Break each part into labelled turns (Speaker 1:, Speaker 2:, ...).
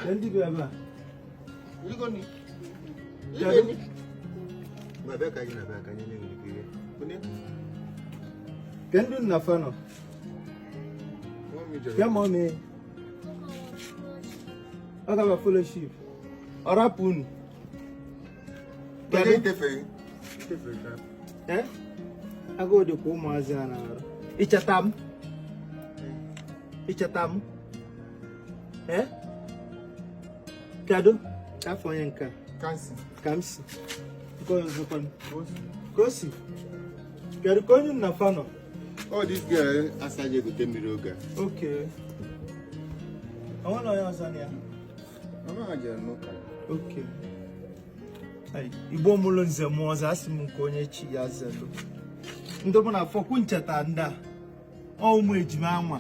Speaker 1: ndị
Speaker 2: bịa ebe
Speaker 1: a kedu nna fa nọ bịa ma ọ mee ọ gaba fellowship ọ rapụ unu agụụ dịkwa ụmụazị a na-arụ icheta m icheta m kedu afa onye nke Kamsi nke onye ọzọkwa Kosi kedu ka onye nna fa nọ ọ dị ga
Speaker 2: asaghị egote mmiri oge a
Speaker 1: okay o nwere onye ọzọ na
Speaker 2: ya
Speaker 1: okay igbo mụlụ nze mụọ ọzọ asị m nke onye chi ya zelu ndị mụ na fa kwụ ncheta ndị a ọ ụmụ ejima anwa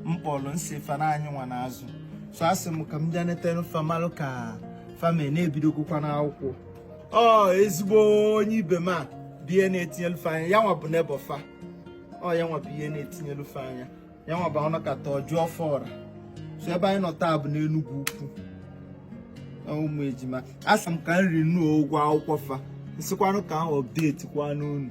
Speaker 1: m kpọrọ m sị fa na anyị nwa na-azụ so asị m ka m bịa nete nụ fa malụ ka fa me na ebidogokwa n'akwụkwọ ọ ezigbo onye ibe m a bụ ihe na-etinyelu fa anya ya nwa bụ neighbour fa ọ ya nwa bụ ihe na-etinyelu fa anya ya nwa bụ ọ nọkata ọ jụọ fa ọra so ebe anyị nọ taa bụ n'enugwu ukwu ọ ụmụ ejima asị m ka m renew ụgwọ akwụkwọ fa m sịkwanụ ka a update kwanụ unu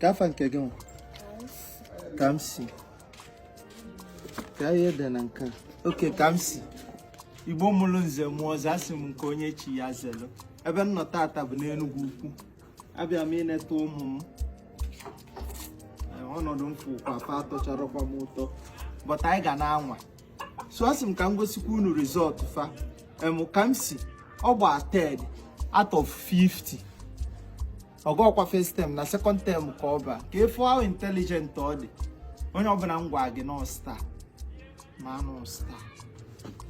Speaker 1: ka afa nke gị nwa Kamsi ka ihe dị na nke okay Kamsi igbo mụrụ nze mụọ ọzọ asị m nke onye chi ya zelu ebe m nọ tata bụ n'enugwu ukwu abịa m ịneta ụmụ m ọnọdụ m fụkwa fa atọcharọkwa m ụtọ but anyị ga na-anwa so asị m ka m gosikwa unu result fa em Kamsi ọ gba third out of 50 ọgọkwa first term na second term ka ọ gba ka ị fụ how intelligent ọ dị onye ọbụla m gwa gị na ọ star ma na ọ star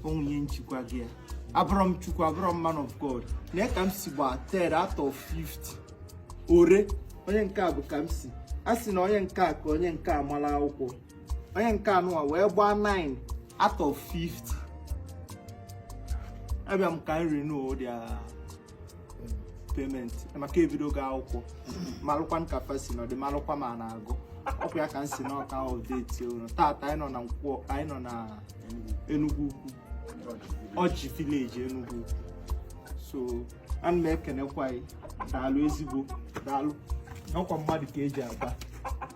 Speaker 1: o nwee onye nchikwa gị ya abụrọ m chukwu abụrọ m man of god nee Kamsi gba third out of 50 ore onye nke a bụ Kamsi a sị na onye nke a ka onye nke a mara akwụkwọ onye nke anụwa wee gbaa 9 out of 50 abịa m ka m renew their payment maka ebidogo akwụkwọ malụkwa ka fa si nọdị malụkwa ma a na-agụ ọkwa ya ka m sị nụ ka a update unu taata anyị nọ na nkwọ anyị nọ na Enugwu Ukwu Ọjị village Enugwu Ukwu so ana m ekenekwa anyị daalụ ezigbo daalụ ọkwa mmadụ ka eji aba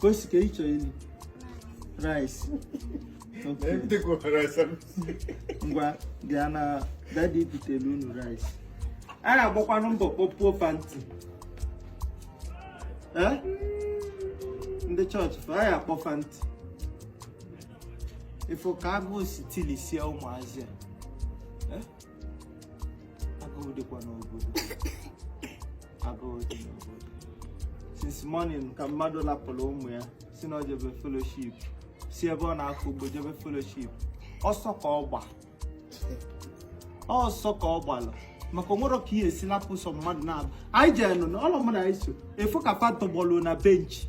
Speaker 1: Kosi ka ị chọọ ili rice. Okay. Ndị gwara rice ahụ. Ngwa bịa na dadi butelu unu rice. A na-agbakwanụ mbọ kpọpuo fanti. Eh? Ndị chọọchị fa ya akpọ fanti. Ị fụ ka agụụ si tilisie ụmụazị a. Eh? agụụ dịkwa n'obodo agụụ dị n'obodo since morning ka mmadụ lapụrụ ụmụ ya si na ọ jebe fellowship si ebe ọ na-akọ ugbo jebe fellowship ọsọ ka ọ gba ọsọ ka ọ gbalụ maka o nwerọ ka ị ya-esi lapụ sọ mmadụ naabọ anyị jee n'ụnọ ọ lọ mụ na gị so ị fụ ka fa tọgbọlụ na benchi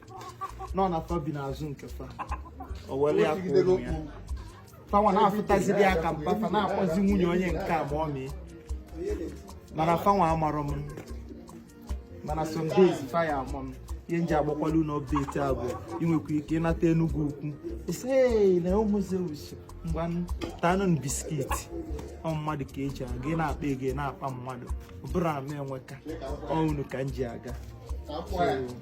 Speaker 1: nọ na fa bi n'azụ nke fa o were ya kụọ ụmụ ya fanwa na-afụtaziri ya ka mpa fa na-akpọzi nwunye onye nke a mummy mana fanwa amarọ m mana some days fa ya ama m ihe m ji agbakwala unu beti a bụ i nwekwa ike ịnata Enugwu Ukwu ị sị na ụmụ Zeus ngwa tanụ biskiti ọ mmadụ ka e ji aga ị na-akpa ego ị na-akpa mmadụ ọ bụrọ na m enweka ọ unu ka m ji aga